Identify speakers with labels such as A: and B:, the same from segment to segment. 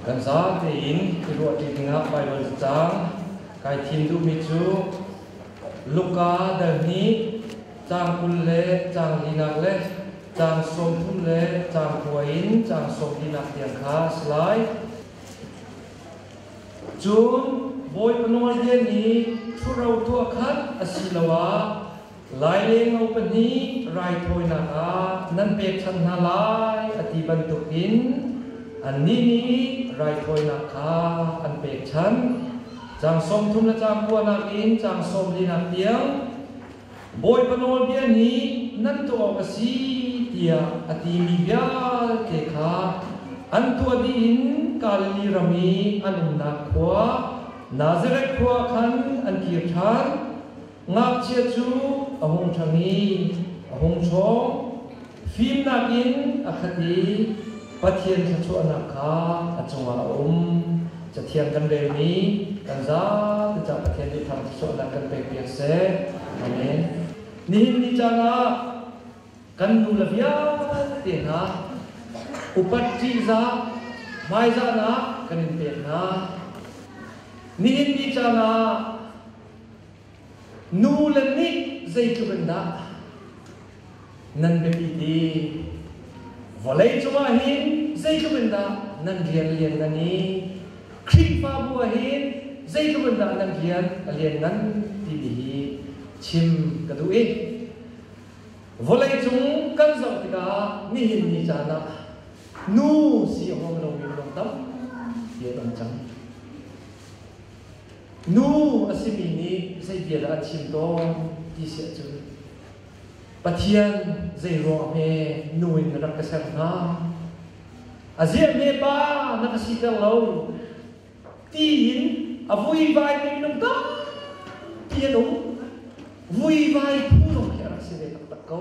A: Kan zapi in i ruah ti dingah Baibal cang kai thim duhmi cu Luka dal nih caang kul le caang linak le caang sawmthum le caang kua in caang sawmlinak tiang kha a si lai. Cun Bawipa nawlbia nih ṭhuro tuah khat asiloah Lailenglo pahnih raithawinak ah nan pek than hna lai a ti bantuk in annih nih raithawinak kha an pek than. Caang sawmthum le caang kua nakin caang sawm linak tiang Bawipa nawlbia nih nan tuah awk a si tiah a timi vialte kha an tuah dih in Galili ram i an umnak khua Nazareth khua ah khan an kir ṭhan. Ngakchia cu a hung ṭhang i a hung ṭhawng, fimnak in a khat i Pathian thluachuahnak kha a cungah a um. Cathiang kan relmi kan zate caah Pathian nih thang thluachuahnak kan pekpiak seh. Amen. Nihin ni caan ah kan nule vialte hna upat ṭihzah hmaizahnak kan in pek hna. Nihin ni caan ah Nule nih zeitluk in dah nan biapi ti vawlei cungah hin zeitluk in dah nan rian lian nan i Khrihfabu ah hin zeitluk in dah nan rian a lian nan timi hi chim ka duh i vawlei cung kan zoh tikah nihin ni caan ah nu si a huam lomi ruang tampi an um cang. nu a simi nih zeibia dah a chim tawn ti si ahcun Pathian zeiruang he nu in na rak ka ser hna a ziahme pa na ka siter lo tiin a vuivaimi minung tampi an um vuivai phung zong khi a rak si ve taktak ko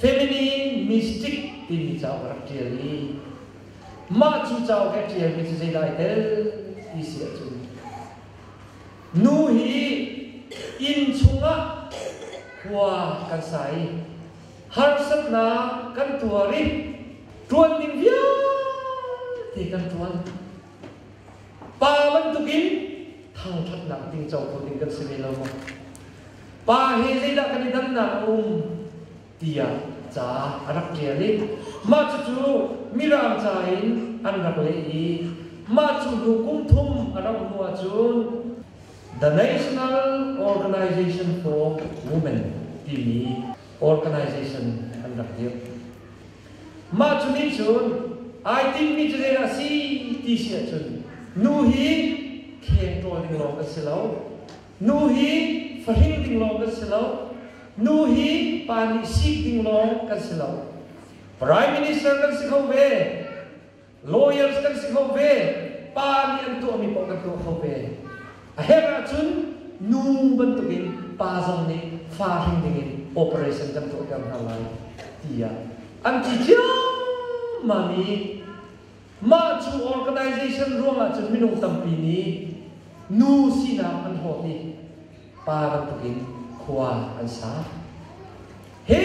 A: feminine mystic timi cauk rak ṭial i mah cu cauk he ṭialmi cu zeidah ai tel ti si ahcun nu hi inn chungah khua kan sa i harsatnak kan tuar i ṭuan ding vialte kan ṭuan pa bantukin thangṭhatnak ding cohlan ding kan si ve lo maw pa hi zeidah kan i dannak a um tiah ca a rak ṭial i mah cucu mirang ca in an rak leh i mah cu hnu kum thum a rauh hnu ahcun The National Organization for Women timi organization an rak dirh. Mah cu nih cun ai timhmi cu zeidah a si ti si ahcun nu hi kheng ṭawl ding lawng kan si lo, Nu hi fahring ding lawng kan si lo. Nu hi pa nih sik ding lawng kan si lo. Prime Minister kan si kho ve. Lawyers kan si kho ve. Pa nih an tuahmi paoh kan tuah kho ve. A herh ahcun nu bantukin pa zong nih fa hring dingin operation kan tuahter hna lai tiah an ti ciammam i Mah cu organization ruang ahcun minung tampi nih nu sinak an hlawt i pa bantuk in khua an sa. He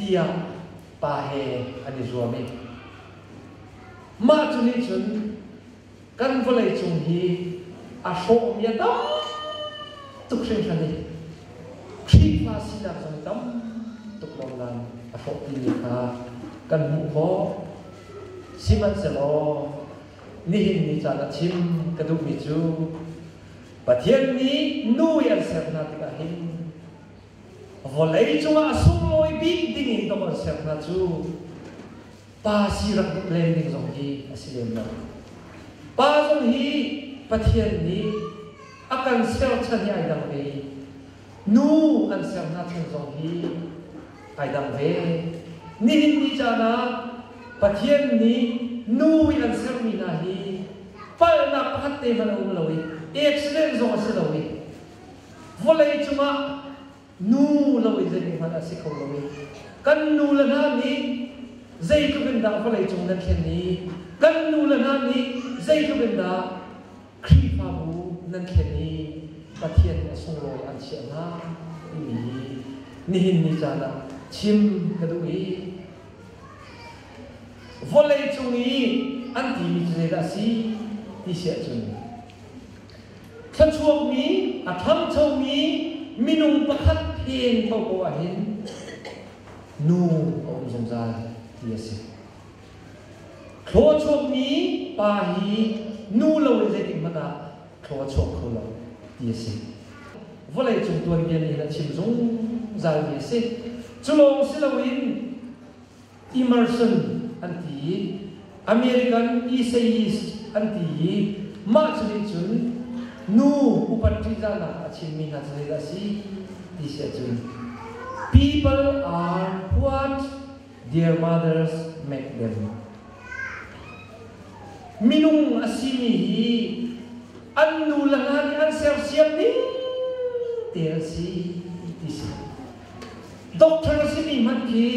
A: tiah pa he an i zuam i mah cu nih cun kan vawleicung hi a hrawhmi a tam tuk hringhran i Khrihfa sinak zong tam tuk lawngnan a hrawh timi kha kan hmuh khawh. Sihmanhsehlaw nihin ni caan a chim ka duhmi cu Pathian nih nu i an ser hna tikah hin vawlei cungah sunglawi bik ding in ka von ser hna cu pa si rak in rel ning zong hi a si lem lo. Pa zong hi Pathian nih a kan serchan i ai dang ve i nu an ser hna chan zong hi ai dang ve. Nihin ni caan ah Pathian nih nu i an sermi hna hi palhnak pakhat te hmanh a um lo i accident zong a si lo i vawlei cungah Nu lo in zeihmanh a si kho lo i kan nule hna nih zeitluk in dah vawleicung nan thlen i kan nule hna nih zeitluk in dah Khrihfabu nan thlen i Pathian nih a sunglawi an chiah hna timi hi nihin ni caan ah chim ka duh i vawleicung i an timi cu zeidah a si ti si ahcun thluachuakmi, a ṭhangchomi minung pakhat phen koko ahhin nu a um zungzal ti a si. Thlaw chuakmi pa hi nu lo le zeitik hmanh ah thlaw a chuak kho lo ti a si. Vawlei cung tuanbia nih hin a chim zungzal mi a si. Cu lawng si loin immersion an ti i American essayist an ti i mah cu nih cun nu upat ṭihzahnak a chimmi hna cu zeidah a si ti si ahcun people are what their mothers make them minung a simi hi an nu le hna nih an sersiam ning te an si ti si Doctor simi hmanh hi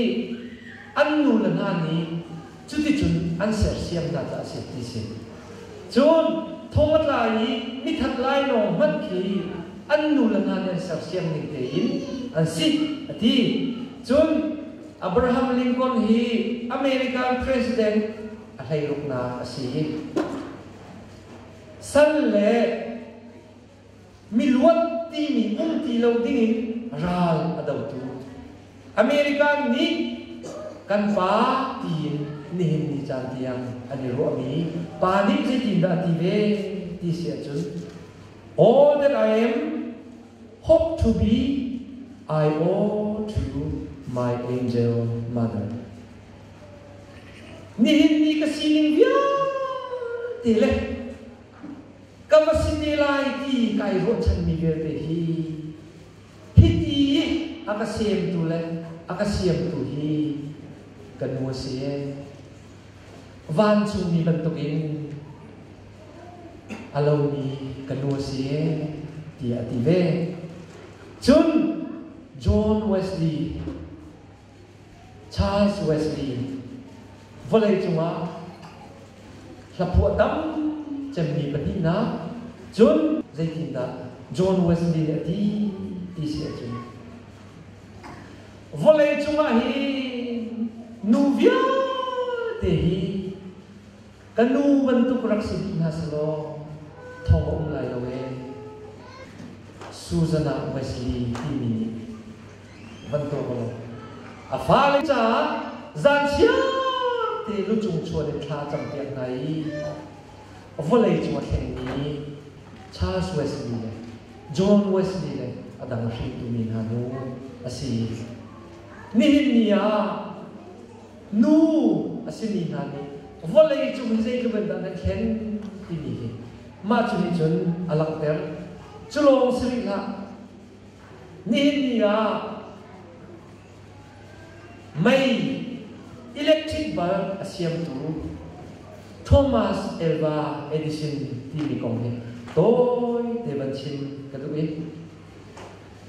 A: an nule hna nih cuticun an sersiam hna caah a si ti si. Cun thong a tlai i mithat lainawng hmanh khi an nule hna nih an sersiam ning tein an si a ti. Cun Abraham Lincoln hi American President a hleiruknak a si. Sal le miluat timi um ti lo dingin ral a dotu American nih kan pa tiin nihin ni caan tiang an i ruahmi pa nih zeitindah a ti ve ti si ahcun all that I am hope to be I owe to my angel mother nihin ni ka sining vialte le ka va si te lai ti kai ruahchanmi vialte hi hiti a ka semtu le a ka siamtu hi ka nu a si e vancungmi bantukin a lomi ka nu a si e ti a ti ve cun John Wesley Charles Wesley vawleicung ah hlaphuah tam cemmi pahnihnak cun zeitindah John Wesley nih a ti ti si ahcun vawleicung ah hi nu vialte hi Ka nu bantuk rak si dih hna selaw thawng a um lai lo ee. Suzana Wesley timi nih van tuak law a fale caah zan siang te lucung chuan in thla campiak hna i vawlei cung a thlengmi Charles Wesley le John Wesley le a dang hringtu mi hna nu a si. Nihin ni ah nu a simi hna nih vawlei cung i zeitluk dah na thlen timi hi mah cu nih cun a langhter. Cu lawng si rih hlah, nihin ni ah mei electric bulb a siamtu Thomas Alva Edison timi kong hi tawite van chim ka duh i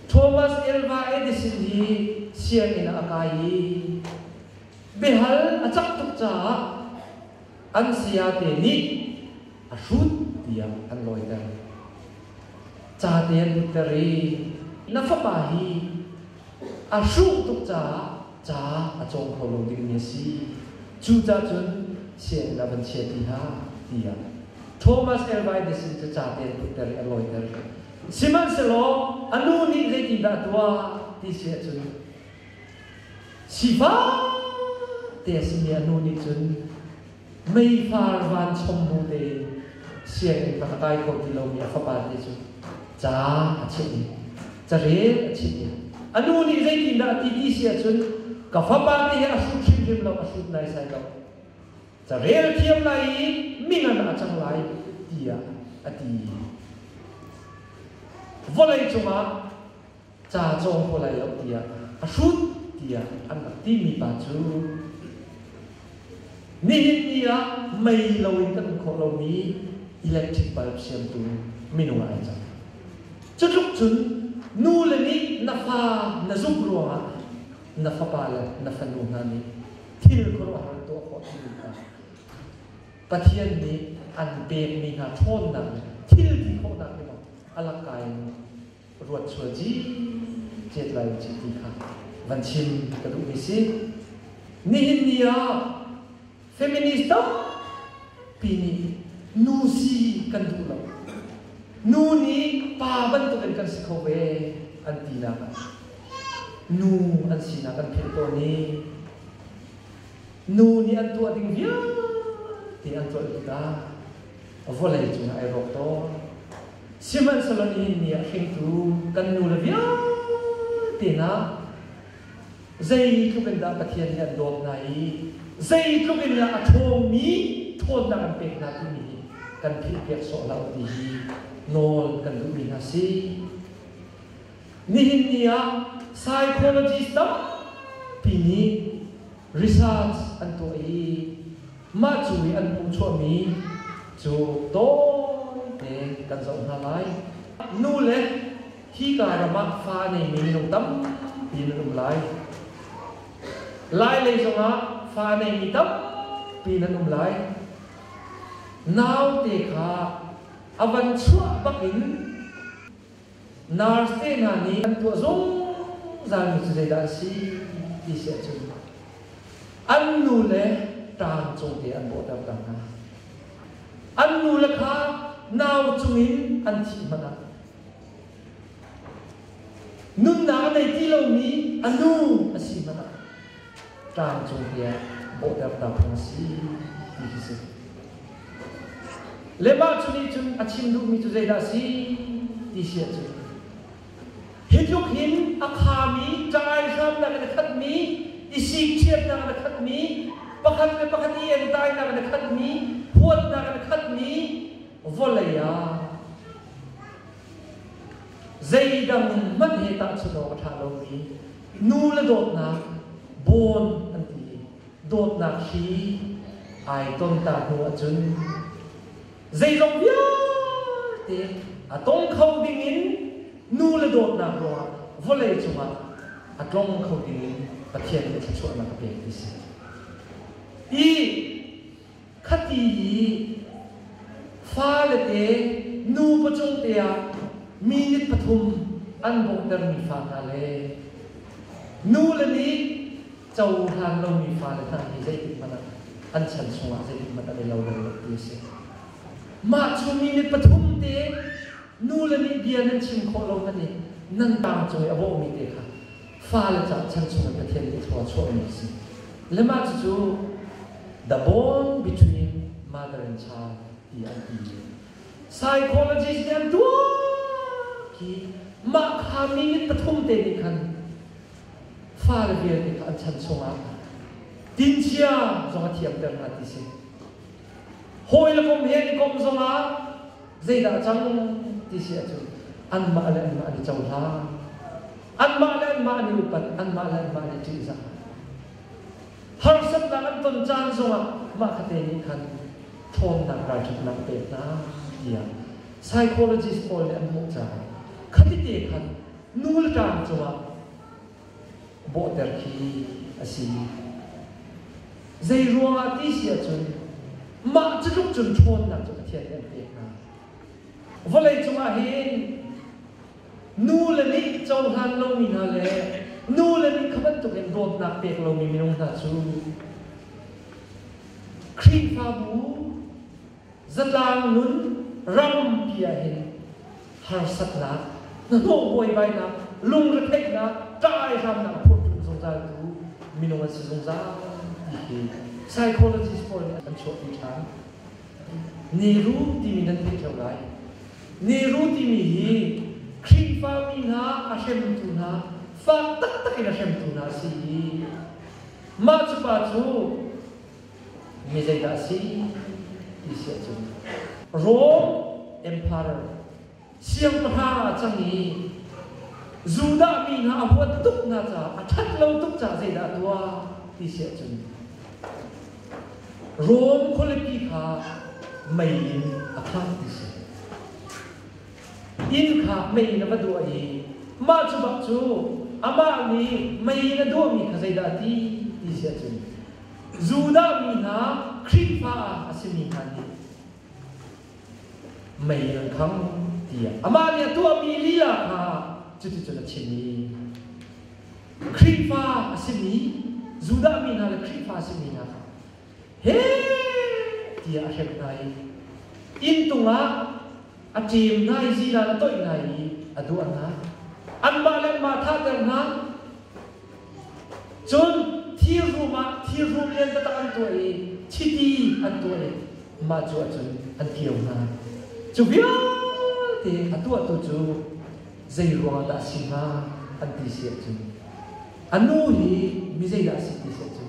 A: Thomas Elva Edison hi sianginn ah a kai i biahal a cang tuk caah an sayate nih a hrut tiah an lawiter. Cate an putter i na fapa hi a hruh tuk caah ca a cawng kho lo dingmi a si. Cucah cun sianginn ah van chiah ti hlah tiah Thomas Elva Edison cu cate an putter i a lawiter. Sihmanhsehlaw a nu nih zeitindah a tuah ti si ahcun sifate a simi a nu nih cun meifar vanchom bu tein sianginn kha a kai kho ti lomi a fapa nih cun ca a chimh i carel a chimh i a nu nih zeitindah a ti ti si ahcun ka fapa te hi a hrut hrimhrim lo a hrut naisai lo carel thiam lai i mingan ah a cang lai tiah a ti vawlei cungah ca cawng ko lai lo tiah a hrut tiah an rak timi pa cu nihin ni ah mei loin kan um khawh lomi electric bulb siamtu minung ai cang cutluk cun nu le nih na fa na zuk ruangah na fapa le na fanu hna nih thil khuaruahhar tuah khawh timi hna Pathian nih an pekmi hna ṭhawnnak le thil ti khawhnak nih bang alangka in ruat sual ciet lai cih ti kha van chim ka duhmi si nihin ni ah feminist tampi nih nu si kan duh lo nu nih pa bantuk in kan si kho ve an tinak nu an sinak an philh tawn i nu nih an tuah ding vialte an tuah tikah vawlei cungah ai rawk tawn sihmanhsehlaw nihin ni ah hringtu kan nule vialte hna zeitluk in dah Pathian nih an dawt hna i zeitluk in dah a ṭhawngmi ṭhawnnak an pek hna timi hi kan philhpiak sawh hlah u ti hi nawl kan duhmi hna si. Nihin ni ah psychologist tampi nih research an tuah i mah cu i an hmuh chuahmi cu tawite kan zoh hna lai. Nu le hika ram ah fa neimi minung tampi an um lai. Lailei zongah fa neimi tampi an um lai. Naute kha a van chuah bak in Narte hna nih an tuah zungzalmi cu zeidah a si ti si ahcun an nu le ṭaan cungte an bawhterter hna. An nule kha nau cungin an thih hmanh ah nunnak a nei ti lomi a nu a si hmanh ah tlangcung hi a bawhtertu phung si ti khi si. Le mah cu nih cun a chim duhmi cu zeidah si ti si ahcun hi tluk hin a khami caai hramnak in a khatmi isik chiatnak in a khatmi pakhat le pakhat i entainak in a khatmi huatnak in a khatmi vawlei ah zeidang hmanh he tahchunh awk a ṭha lomi nule dawtnak bawn an ti i dawtnak hri ai ton ta hnu ahcun zeizong vialte a tong kho ding in nule dawtnak ruangah vawlei cungah a tlong kho ding in Pathian nih thluachuahnak a pek ti si. I khati i falete nu pacawte ah mi nih pathum an bawmhtermi fa hna le nu le nih cohlan lomi fale hna hi zeitikhmanh ah an chan chungah zeitikhmanh ah i lo ti a si. Mah cu mi nih pathum te nu le nih bia nan chim khawh lo hmanh i nan tangcawi a bawhmi te kha fale caah chan chungin Pathian nih thluang a chuahmi a si. Le mah cucu The Bond Between Mother and Child ti an ti i psychologist nih an tuak i mah kha mi mit pathum te nih khan fale vialte kha an chan chungah tinchia zong a thiamter hna ti si. Hawi le kom he i komh zong ah zeidah a cang ti si ahcun anmah le anmah an i cohlang. Anmah le anmah an i upat, anmah le anmah an i ṭihzah. Harsatnak an ton caan zongah mah khatte nih khan ṭhawnnak ralṭhatnak a pek hna tiah psychologist pawl nih an hmuh caah khatite khan nu le ṭang cungah bawhter khi a si. Zeiruangah ti si ahcun mah cutluk cun ṭhawnnak cu Pathian nih an pek hna. Vawlei cungah hin nu le nih cohlan lomi hna le nu le nih kha bantukin dawtnak pek lomi minung hna cu Khrihfabu zatlang nun rampi ahhin harsatnak, hnahnawh buaibainak, lungretheihnak, ka-aihramnak phurhtlun zungzal tu minung an si zungzal ti psychologists pawl nih an chuahpi ṭhan. Niru timi nan theih ṭheo lai. Niru timi hi Khrihfami hna a hremtu hna fa taktak in a hremtu hna a si i mah cu pa cu mi zeidah a si ti si ahcun Rom Emperor siangpahrang ah cang i Judah mi hna a huat tuk hna caah a ṭhat lo tuk caah zeidah a tuah ti si ahcun Rom khualipi kha mei in a khangh ti si. Inn kha mei in a va duah i mah cu bak cu amah nih mei in a duahmi kha zeidah a ti ti si ahcun Judah mi hna Khrihfa a simi hna nih mei an khang tiah amah nih a tuahmi lila hna cuticun a chim i Khrihfa a simi Judah mi hna le Khrihfa a simi hna kha he tiah a hrem hna i inn tungah a ṭem ngai ziran toih ngai i a duah hna. Anmah le anmah thahter hna. Cun thir hrum ah thir hrum liantaktak an tuah i chiti an tuah i mah cu ahcun an kio hna. Cu vialte a tuahtu cu zei ruangah dah a si hnga an ti si ahcun, a nu hi mi zeidah a si ti si ahcun,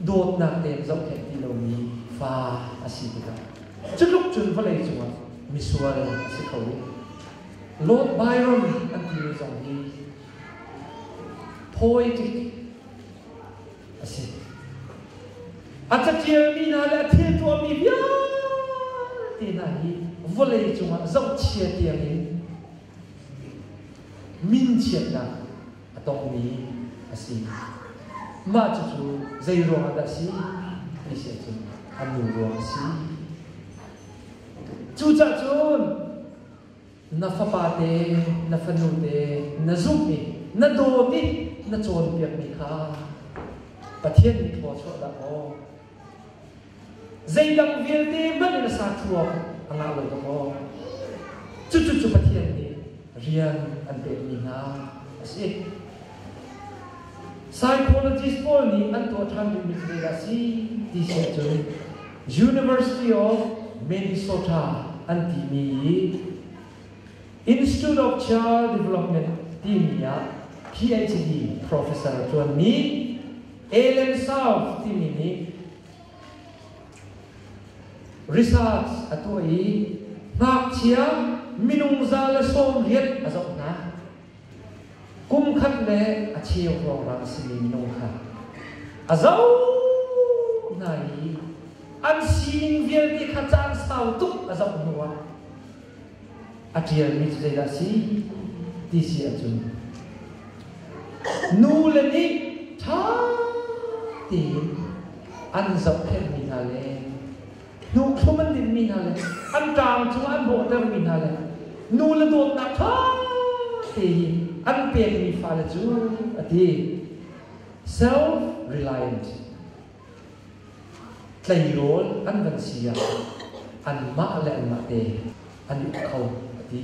A: dawtnak nem zoh he ti lomi fa a si tikah cutluk cun vawlei cungah misual a si kho. Lord Byron an timi zong hi poetic a si. A catialmi hna le a thil tuahmi vialte hna hi vawlei cungah zohchia tiangin min chiatnak a tongmi a si. Mah cucu zei ruangah dah a si ti si ahcun a nu ruang a si. Cucah cun na fapate, na fanute na zumh i na dawt i na cawnpiakmi kha Pathian nih thawchuah dah maw Zeidang vialte hmanh na sa ṭhuam a ngah lo dong maw? Cucu cu Pathian nih rian an pekmi hna a si. Psychologist pawl nih an tuah ṭhan duhmi cu zeidah a si ti si ahcun University of Minnesota an timi i Institute of Child Development timi ah PhD professor a ṭuanmi Helen South timi nih research a tuah i ngakchia minung za le sawm riat a zoh hna. Kum khat le a cheu ruangah a simi minung kha a zoh hna i an sining vialte kha caan sau tuk a zoh hnuah a ṭialmi cu zeidah a si ti si ahcun nu le nih ṭha tein an zohkhenhmi hna le hnukthlum an dinmi hna le an ṭaang cungah an hrawhtermi hna le nu le dawtnak ṭha tein an pekmi fale cu a ti self-reliant Tleirawl an van si ah anmah le anmah te an i uk kho a ti.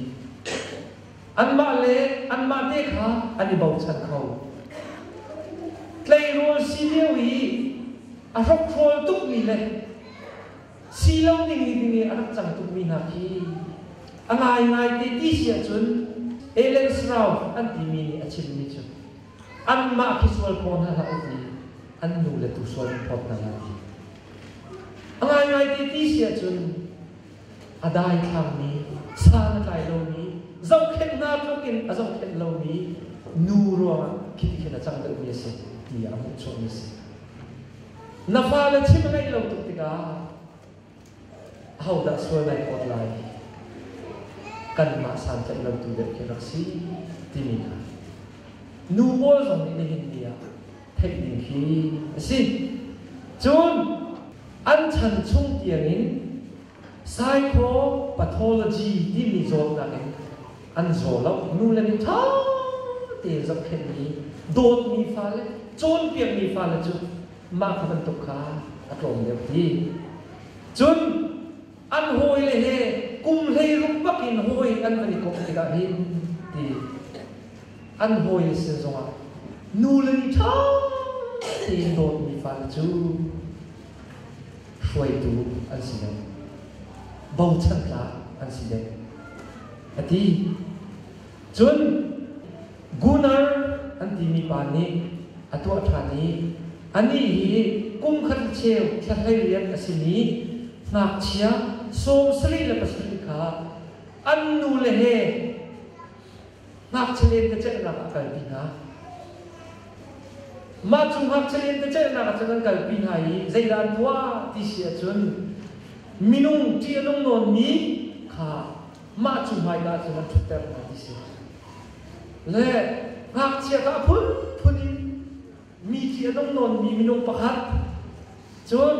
A: Anmah le anmah te kha an i bochan kho. Tleirawl si lio i a hrokhrol tukmi le si lo ding i ding i a rak cang tukmi hna khi a ngaingai te ti si ahcun Ellen Srauf an timi nih a chimmi cu anmah hisual pawl hna hlah u i an nu le tusual phawt hna hlah u. A ngaingai ti ti si ahcun a daithlangmi, san a tlai lomi, zohkhenh hna tlukin a zohkhenh lomi nu ruangah khi khin a cang deuhmi a si ti a hmuhchuahmi a si. Na fale chim a ngeih lo tuk tikah ahodah sual ngai ka ot lai kanmah santlaih lo tu deuh khi rak si timi hna nu pawl zong nih nihin ni ah theih ding khi a si cun an chan chung tiangin psychopathology timi zawtnak in an zaw lo nu le nih ṭha tein zohkhenh mi dawtmi fale cawnpiakmi fale cu mah kha bantuk kha a tlawm deuh ti. Cun an hawile he kum hleiruk bak in hawi an kan i kawh tikah hin ti an hawile sin zongah nule nih ṭha tein dawtmi fale cu hruaitu an si deuh bochan tlak an si deuh a ti Cun Gunnar an timi pa nih a tuah ṭhan i anih hi kum khat cheu thlahlei rian a simi ngakchia sawm sarih le pasarih kha an nule he ngakchia lentecelhnak ah kalpi hna. Mah cu ngakchia lentecelhnak ah cun an kalpi hna i zeidah an tuah ti si ahcun minung ṭih a nung nawnmi kha mah cu hmaika cun an ṭhutter hna ti si. Le ngakchiat ah phunphun in mi khi a nung nawnmi minung pakhat, cun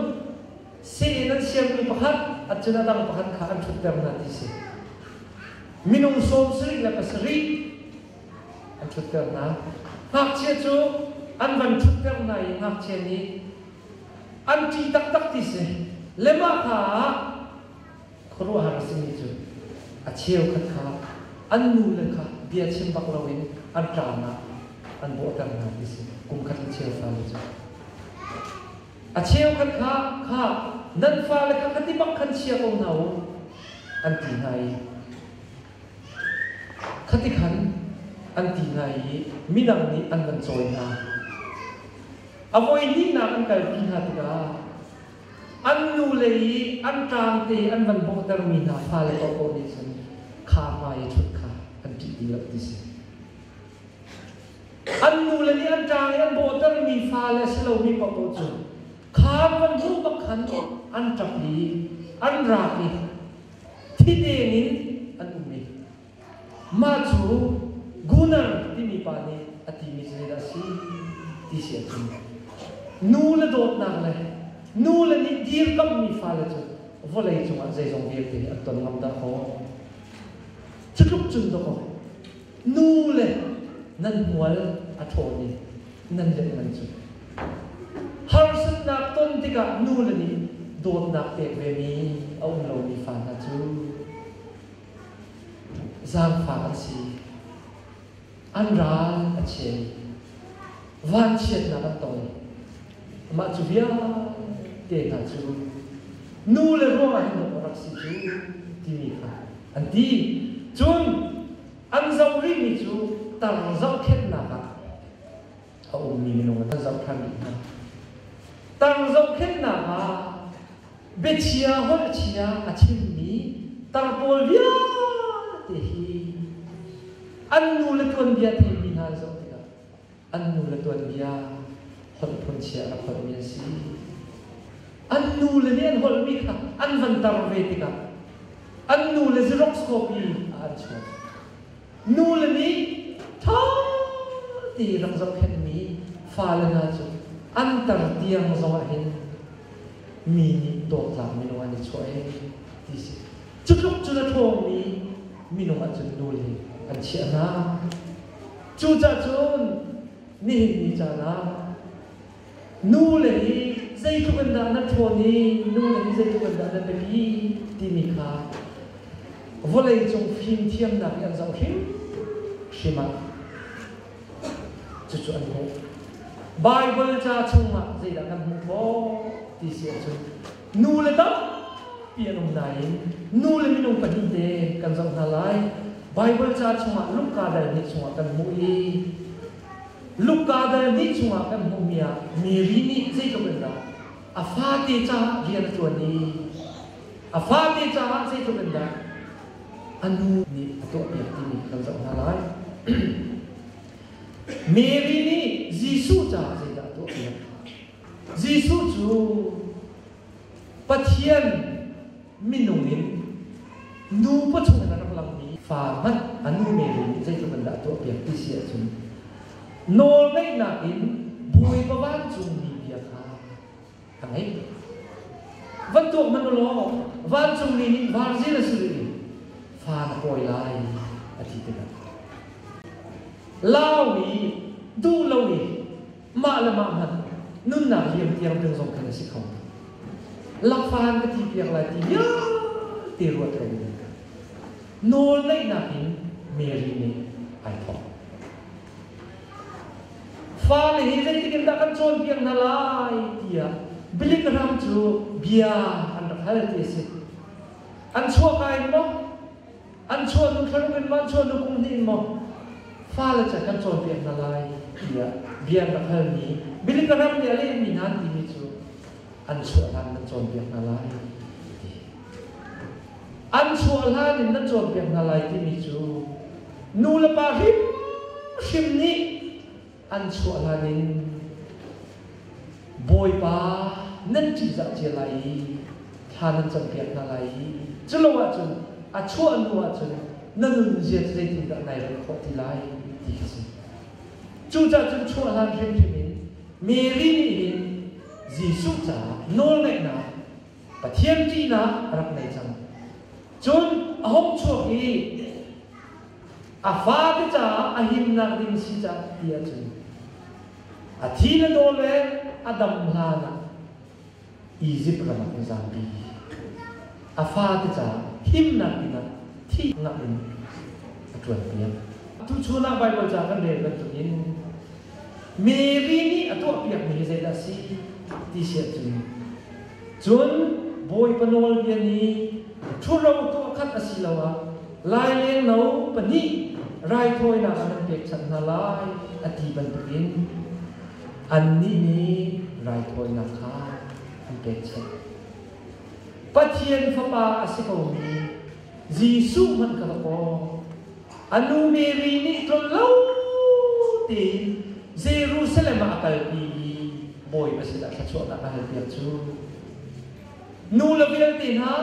A: seh in an siangmi pakhat, cun a dang pakhat kha an ṭhutter hna ti si. Minung sawm sarih le pasarih an ṭhutter hna. Ngakchia cu an van ṭhutter hna i ngakchia nih an ṭih taktak ti si. Le mah hla ah Khuaruahhar a simi cu a cheukhat kha an nule kha bia chim bak loin an ṭaanah an bawhter hna ti a si. Kumkhat in cheu fale cu a cheukhat kha kha nan fale kha kha ti bak khan chia ko hna u an ti hna i khati khan an ti hna i midang nih an van cawi hna. A voi hnihnak an kalpi hna tikah An nule i an ṭaangte an van bawhtermi hna fale paohpaoh nih khan kha hmai i ṭhut kha an ṭih ti lo ti si. An nule nih an ṭaang i an bawhtermi fale si lomi paohpaoh cu kha an van hmuh bak khan an ṭap i an ra i thi tein in an um i Mah cu Gunnar timi pa nih a timi cu zeidah a si ti si a thim. Nule dawtnak le nule nih dirkamhmi fale cu vawlei cungah zeizong vialte nih an ton ngam dahkaw. Cutluk cun dawkaw, nule nan hmual a ṭhawn i nan letman cu harsatnak ton tikah nule nih dawtnak pek vemi a um lomi fa hna cu zaangfah a si. An ral a cheu. Vanchiatnak a ton. Mah cu vialte hna cu nu le ruangah hin dawt a rak si cu timi kha an ti. Cun an zoh rihmi cu tar zohkhenhnak ah a ummi minung a kan zoh ṭhan dih hna. Tang zohkhenhnak ah biachia holh a chia a chimmi tar pawl vialte hi an nu le tuanbia theimi hna zoh tikah an nu le tuanbia holh phunchia a rak holhmi an si. An nu le nih an holhmi kha an van tar ve tikah an nu le Xerox copy ah an chuak. Nule nih ṭha tein rak zohkhenhmi fale hna cu an tar tiang zongah hin mi nih dawtnak minung an i chuah i ti si. Cutluk cun a ṭhawngmi minung ahcun nule an chiah hna. Cucahcun nihin ni caan ah Nule nih zeitluk in dah na ṭhawn i nule nih zeitluk in dah na biapi timi kha vawleicung fimthiamnak nih an zoh hrimhrim ah cucu an hmuh. Baibal ca chungah zeidah kan hmuh khawh ti si ahcun nule tampi an um nain nule minung pahnihte kan zoh hna lai. Baibal ca chungah Luka dal hnih chungah kan hmuh i Luka dal hnih chungah kan hmuhmi ah Mary nih zeitluk in dah a fate caah rian a ṭuan i a fate caah zeitluk in dah a nu nih a tuahpiak timi kan zoh hna lai. Mary nih Jesuh caah zeidah a tuahpiak? Jesuh cu Pathian minung in nu pachung in a rak langmi fa hmanh a nu men in zeitluk in dah tuahpiak ti si ahcun nawlngeihnak in Bawipa vancungmi bia kha ka ngei van tuak hmanh u law vancungmi nih varzil a sulh i fa na pawi lai a ti tikah lau i duh lo i mah le mah hmanh nunnak liam piak ding zong kan si kho. Lakfahan ka ti piak lai ti vialte ruat kan in nawl naihnak in Mary nih ai thawk. Fale hi zeitik in dah kan cawnpiak hna lai tiah bilikram cu bia an rak hal ti a si. An chuak ai maw? an chuahnu thlanuk in mah chuahnu kum hnih in maw fale cu kan cawnpiak hna lai tiah bia ka halmi bilikahram le a lehmi hna an timi cu an chuah hlan nan cawnpiak hna lai an chuah hlan in nan cawnpiak hna lai timi cu nu le pa hrimhrim nih an chuah hlan in Bawipa nan ṭihzah cia lai i thla nan campiak hna lai i cu lo ahcun a chuah hnu ahcun na nunzia cu zeitindah nai rem khawh ti lai ti a si. Cucaah cun chuah hlan hrimhrim in Mary nih hin Jesuh caah nawlngaihnak Pathian ṭihnak a rak ngei cang. Cun a hung chuak i a fate caah a himnak ding si caah ti ahcun a thi le daw le a dam hlan ah Izipt ram ah a zampi. A fate caah thimnak ding ah thihngah in a ṭuanpiak. Tuchun ah Baibal ca kan rel bantukin Mary nih a tuahpiakmi hi zeidah a si ti si ahcun Cun Bawipa nawlbia nih ṭhuro tuah khat asiloah laileng no pahnih raithawinak ah nan pekchanh hna lai, a ti bantukin annih nih raithawinak kha an pekchanh. Pathian Fapa a si komi Jesuh hmanh ka va kawh. A nu Mary nih tlol lo tein Jerusalem ah a kalpi i Bawipa sinah thluachuahnak a halpiak cu. Nu le vialte hna,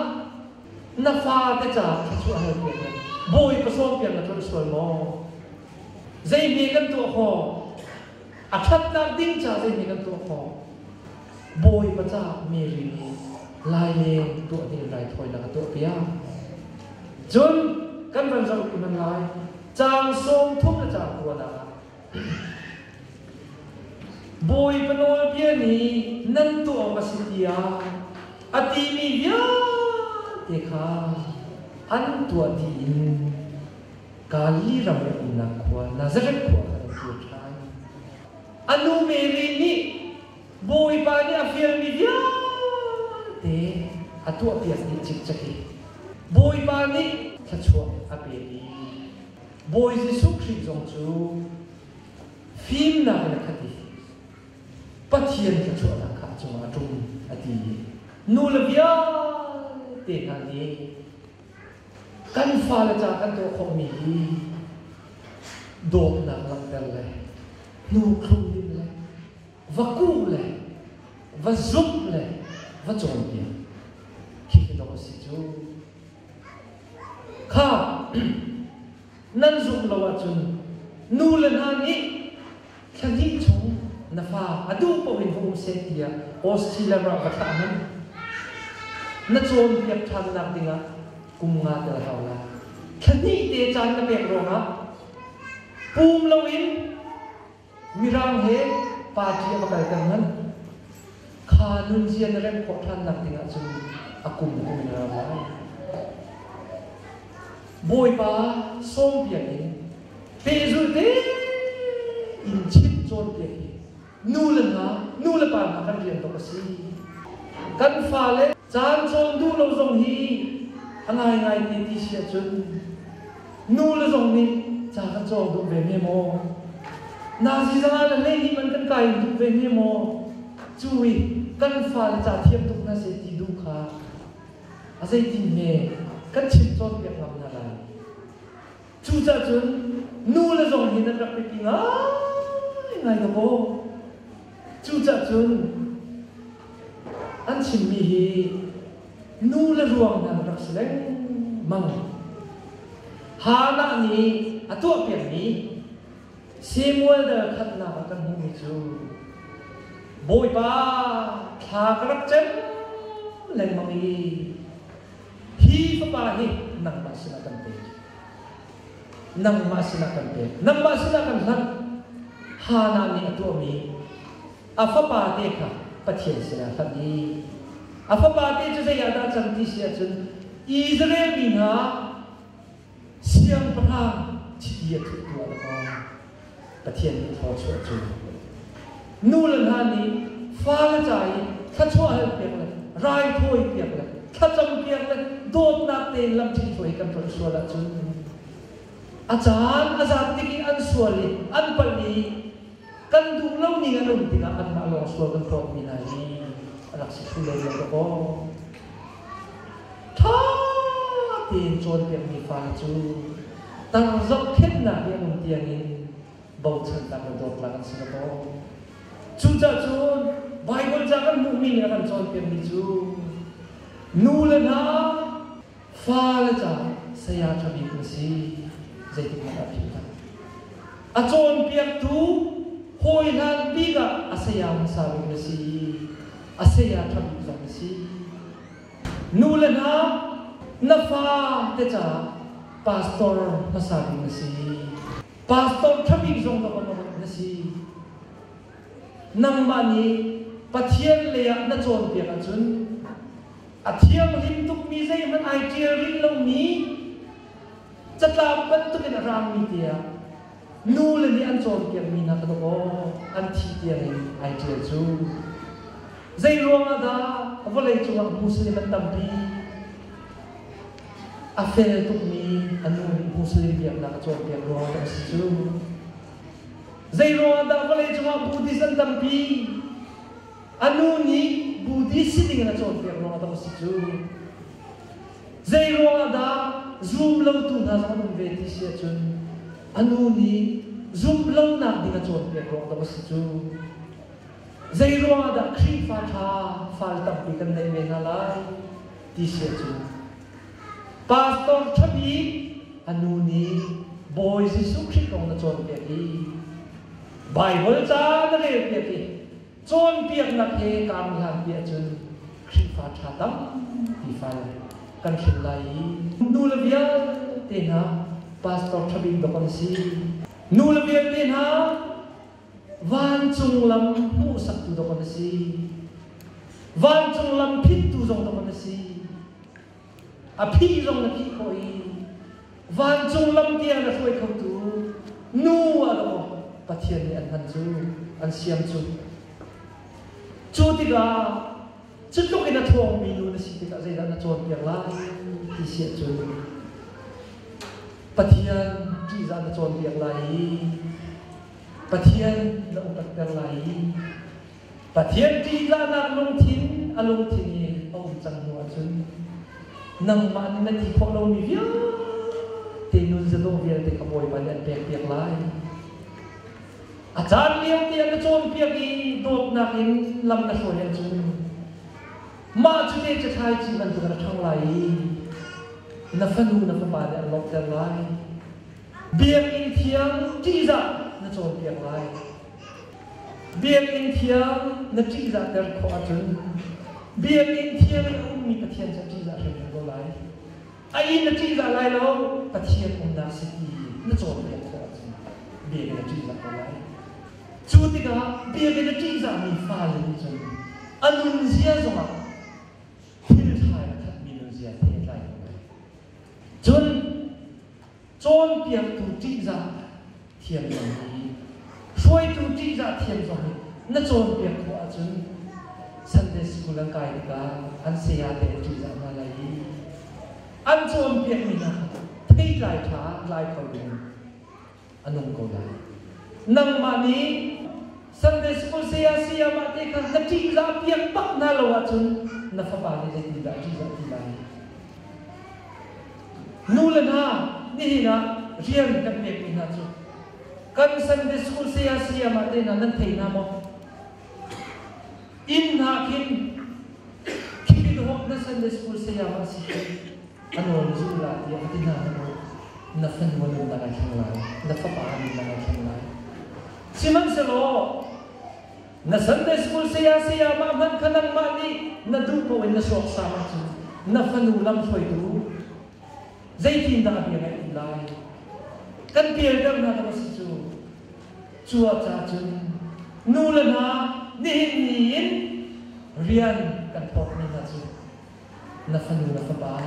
A: na fate caah thluachuah halpiak le Bawipa sawmpiak na tlolh sual maw? Zei hme kan tuah khawh? A ṭhatnak ding caah zei hme kan tuah khawh? Bawipa caah mi ri nih laileng tuah ding raithawi lak a tuahpiak. Cun kan van zoh i man lai, caang sawmthum le caang kua dah. Bawipa nawlbia nih nan tuah awk a si tiah a timi vialte kha an tuah tiin Galilee ram i a umnak khua, Nazareth khua kha an kir ṭhan. A nu Mary nih Bawipa nih a fialmi vialte a tuahpiak dih cikcek i Bawipa nih thluachuah a pek i Bawi Jesuh Khrih zong cu fimnak in a khat i Pathian thluachuahnak kha a cungah a ṭum a ti i nu le vialte hna nih Kan fale ca kan tuah khawhmi hi dawtnak langhter le hnukhlung dinh le va kuh le va zumh le va cawnpiak khi kan rawk a si cu. Kha nan zumh lo ahcun nule hna nih thla hnih chung na fa a duh paoh in hmu usih tiah Australia ram va thlah hmanh na cawnpiak ṭhannak dingah kum nga tel a hau lai. Thla hnih te caan na pek ruangah pum loin Mirang he party a va kalter manh. Kha nunzia na remh khawh ṭhan nak ding ahcun a kum a um ngar lai. Bawipa sawm biakinn pehzulh te in chimh cawnpiak hi nu le hna, nu le pa hna kan rian tuk a si. Kan fale caan cawn duh lo zong hi a ngaingai ti ti si ahcun Nule zong nih ca ka cawk duh ve ne maw? Nazi zana le lehnih man kan kai duh ve ne maw? Cu i kan fale ca thiam tuk hna seh ti duh kha a zeitin nge kan chim cawnpiak ngam hna lai? Cucah cun nule zong hi nan rak biapi ngaingai dawkaw. Cucah cun an chimmi hi nu le ruangdang rak si lengmang. Hannah nih a tuahpiakmi Samuel dal khatnak ah kan hmuhmi cu Bawipa thla ka rak cem lengmang i hi fapa hi nangmah sinah kan pe. nangmah sinah kan pek nangmah sinah kan hlanh Hannah nih a tuahmi a fapate kha Pathian sinah hlanh i a fapate cu zei ah dah cang ti si ahcun Israel mi hna siangpahrang chiti a thuhtu a rak Pathian nih thluachuah cu nule hna nih fale ca i thluachuah hal piak le raithawi piak le thlacam piak le dawtnak tein lam ṭhithruai kan tlolh sual ahcun a caan a zat tik i an sual i an palh i kan duh lomi an um tikah anmah lawng sual kan tlawmmi hna hi rak si thlu lem lo kaw ṭha tein cawnpiakmi pa cu tar zohkhenhnak i a um tiangin bochannak le dawtnak an si lo maw? Cucacun Baibal ca kan hmuhmi nih a kan cawnpiakmi cu nu le hna fale caah saya ṭhabik na si. Zeitikah dah a philh hna? A cawnpiaktu hawihlan bik ah a saya hmasa bik na si i a saya ṭha bik zong na si. Nu le hna, na fate caah pastor hmasa bik na si. Pastor ṭha bik zong governor na si. Nangmah nih Pathian lei ah na cawnpiak ahcun a thianghlim tukmi zeihmanh ai ṭial rih lomi Catlang bantukin a raammi tiang nule nih an cawnpiakmi hna kha dawh an thih tiang in ai ṭial cu. Zeiruangah dah vawlei cungah Muslim an tampi? A fel tukmi a nu nih Muslim biaknak a cawnpiak ruangah dah a si cu? Zeiruangah dah vawlei cungah Buddhist an tampi? A nu nih Buddhist si dingin a cawnpiak ruangah dah a si cu? Zeiruangah dah zum lotu hna zong an um ve ti si ahcun a nu nih zum lonak ding a cawnpiak ruang dang a si cu. Zeiruangah dah Khrihfa ṭha fale tampi kan neih men hna lai ti si ahcun pastor ṭha bik a nu nih Bawi Jesuh Khrih kong na cawnpiak i Baibal ca na relpiak i Cawnpiaknak he kaa miak ti ahcun Khrihfa ṭha tampi fale kan hrin lai i nule vialte hna pastor ṭha bik dawk an si. Nule vialte hna vancung lam hmuhsaktu dawk an si. Vancung lam phittu zong dawk an si. A phih zong na phih khawh i vancung lam tiang na hruai khotu nu a ra um, Pathian nih an han cu an siam cu. Cu tikah cu tluk in a thawngmi nu na si tikah zeidah na cawnpiak lai ti siah cu Pathian ṭihzah na cawnpiak lai i Pathian na upat ter lai i Pathian ṭihtlahnak lungthin a lungthin i a um cang hnu ahcun nangmah nih na ti khawh lomi vialte nunzadaw vialte ka Bawipa nih an pekpiak lai. A caan liote an na cawnpiak i dawtnak in lam na hruai ahcun mah cu te cathlai ci bantuk an ṭhang lai i na fanu na fapa nih an lawmhter lai. Biakinn thiang ṭihzah na cawnpiak lai. Biakinn thiang na ṭihzahter khawh ahcun Biakinn thiang i a ummi Pathian cu a ṭihzah hrimhrim ko lai. A inn na ṭihzah lai lo, Pathian umnak sii na cawnpiak khawh ahcun biakinn a ṭihzah ko lai. Cu tikah biakinn a ṭihzahmi fale nih cun a nunzia zongah thil ṭha in a khatmi nunzia he tlai ko lai. Cun Cawnpiaktu ṭihzah thiam zong hi, hruaitu ṭihzah thiam zong nih na cawnpiak khawh ahcun Sunday School an kai tikah an sayate an ṭihzah hna lai i an cawnpiakmi hna theitlai ṭha lai kho dingin a nung ko lai. Nangmah nih Sunday School saya sayamah te kha na ṭihzah piak bak hna lo ahcun na fapa nih zeitindah a ṭihzah ti lai? Nule hna, nihin ah rian kan pekmi hna cu kan Sunday School saya sayama te hna nan thei hna maw? Inn hna khin khi mi dawt na Sunday School sayama si hi a nawl zul la tiah a ti hna hmanh na fanua nan na ngai thlang lai na fapa nan na ngai thlang lai sihmanhsehlaw Na Sunday School saya-sayamah hmanh kha nangmah nih na duh paoh in na suaksam ahcun na fanu lamhruaitu zeitindah bia na in lai? Kan pialter hna ka va si cu. Cu ah ca cun nu le hna nihin ni in rian kan phawtmi hna cu na fanu le fapa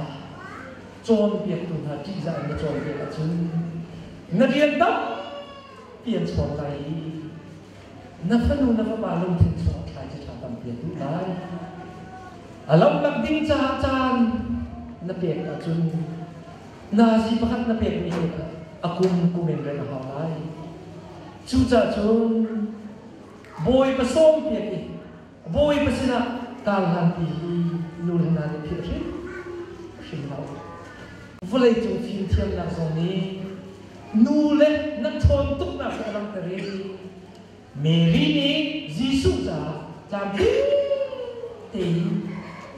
A: cawnpiaktu hna ṭihzah in na cawnpiak ahcun na rian tampi an chawn lai i Na fanu na fapa lungthin chung a thlai cu thla tampi a duh lai. A lamlak ding caah caan na pek ahcun na si pakhat na pek nih hin a kum kumenrem a hau lai. Cucacun Bawipa sawm piak i Bawipa sinah tarlanpi hi nu le hna nih philh hrim lo. Vawleicung fimthiamnak zong nih nu le nan ṭhawn tuknak hi a langhter i Mary nih Jesuh caah tlamtling tein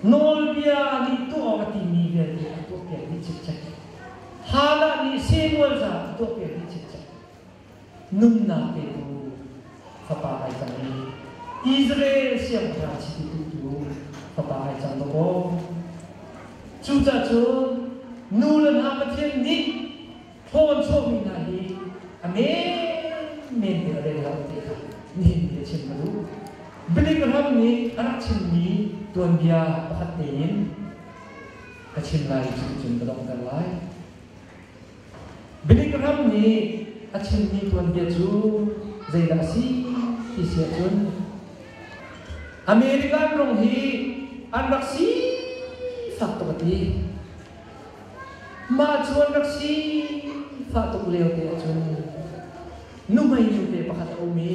A: nawlbia nih tuah awk a timi vialte a tuahpiakmi cikcek, Hannah nih Samuel caah a tuahpiakmi cikcek, Nunnak pe ko, fapa ai cang i Israel siangṭhachi uktu fapa ai cang ko kaw, cucacun nu le hna Pathian nih ṭhawnchawmi hna hi a menmen te a den lo ti kha nihin ni biachim a duh. Bialikram nih a rak chimmi tuanbia pakhat te in ka chim lai cucun ka donghter lai. Bidik ram nih a chimmi tuanbia cu zeidah a si ti si ahcun American ram hi an rak sifak tuk a ti. Mah cu an rak sifah tuk lio te ahcun nuhmei nu pe pakhat a um i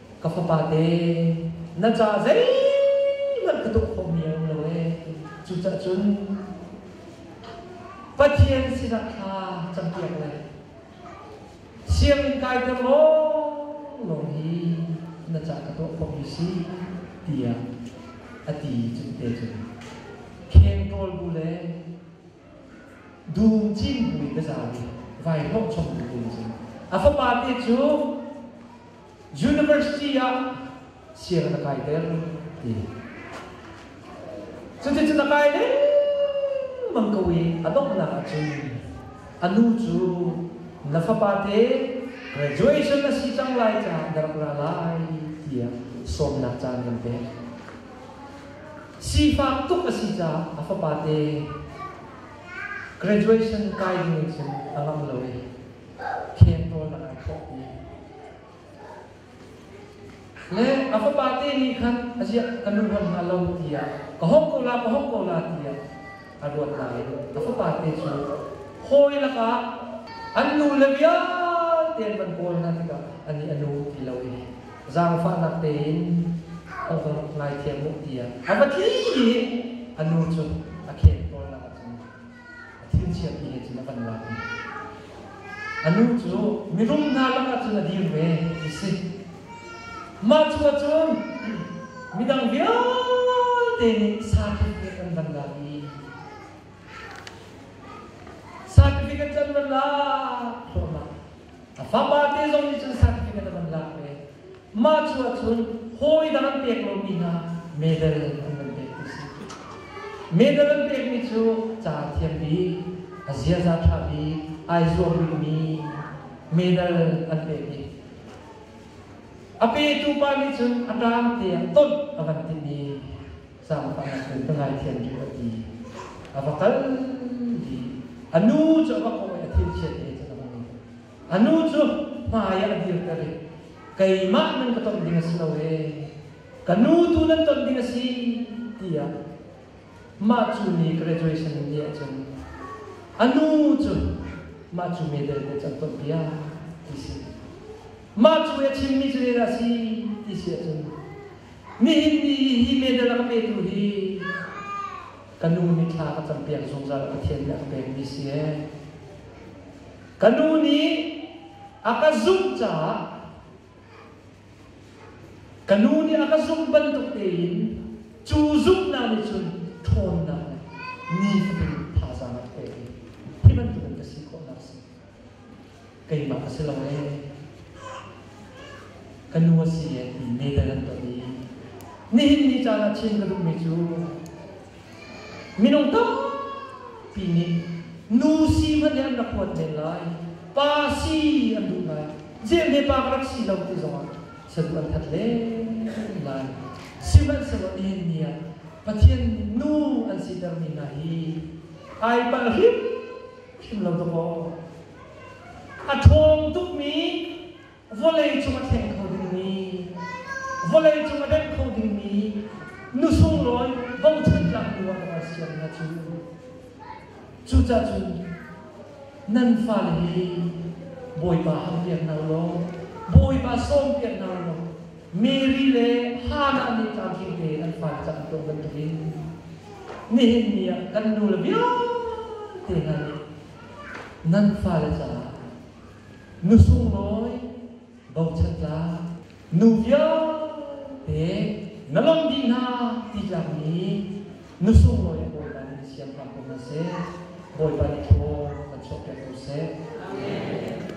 A: ka fapate na ca zeihmanh ka tuk khomi a um lo e cucah cun Pathian sinah thla campiak le sianginn kai ter lawnglawng hi na ca ka tuah khomi si tiah a ti cun te cun khengtawl bu le dum cin bu in ka za i vai hlawh chom bu te cun a fapa te cu University ah sianginn a kai deng ti. Cuticun a kai lengmang ko i a donghnak ahcun a nu cu na fapa te graduation na si cang lai caah na rak ra lai tiah sawmnak caan kan pek. Sifak tuk a si caah a fapa te graduation kai ding in cun a ngam lo i khen rawl na kai khawh ti Le a fapa te nih khan a ziah kan run ruat hna lo tiah ka hawk ko la ka hawk ko la tiah a ruat hna i a fapa te cu hawi lakah an nu le vialte an van kawl hna tikah ani a nu ti lo i zaangfahnak tein a va ngaithiam u tiah a va thi i a nu cu a kheng tawlnak ah cun Thilchiami nih cun a kan lak i a nu cu mirum hna lakah cun a dir ve ti si. Mah cu ahcun midang vialte nih sakit he kan van lak i sakit he kan van lak khawhnak a fapa te zong nih cun sakit he kan van lak ve. Mah cu ahcun hawidah an pek lomi hna medal an van pektu si. Medal an pekmi cu ca a thiam bik, a ziaza ṭha bik, ai zuam rihmi medal an pek i a petu pa nih cun a ṭaangte ah tonh a van timh i zaangfah na cun ka ngaithiam rih a ti. A va kal i a nu cu a va kawi a thilchiate cu a va ngei. a nu cu hmaiah a dirter i keimah nan ka tonh ding a si lo e ka nu tu nan tonh ding a si tiah mah cu ni graduation in dih ahcun a nu cu mah cu medal na can tonh piak ti si mah cu a chimmi cu dah a si ti si ahcun nihin ni hi medal a ka petu hi ka nu nih thla ka cam piak zungzal a Pathian nih a ka pekmi si ee Ka nu nih a ka zumh caah ka nu nih a ka zumh bantuk tein cu zumhnak nih cun ṭhawnnak le nifatin thazaang a pek i hi bantukin ka si khawhnak a si. Keimah ka si lo ee. Ka nu a si ee ti meter an ton i nihin ni caan ah chim ka duhmi cu Minung tampi nih nu si hmanh nih an rak huat men lai. Pa si an duh lai. Zelte pa ka rak si lo ti zongah saduh an that len lai. Sihmanhsehlaw nihin ni ah Pathian nu an sitermi hna hi ai palh hrimhrim lo tuk maw? A ṭhawng tukmi vawleicung a thleng kho dingmi, vawleicung a denh kho dingmi nu sunglawi bochan tlaktu arual sian hna cu cucacun nan fale hi Bawipa hal piak hna ulaw Bawipa sawm piak hna ulaw Mary le Hannah nih tlangkil tein an fale caah tuah bantukin nihin ni ah kan nu le vialte hna nih nan fale caah Nu sunglawi, bochan tlak, nu vialte na lawmh dih hna ti tlakmi nu sunglawi Bawipa nih siangpahrang ko hna seh, Bawipa nih thlaw kan chuahpiak ko seh.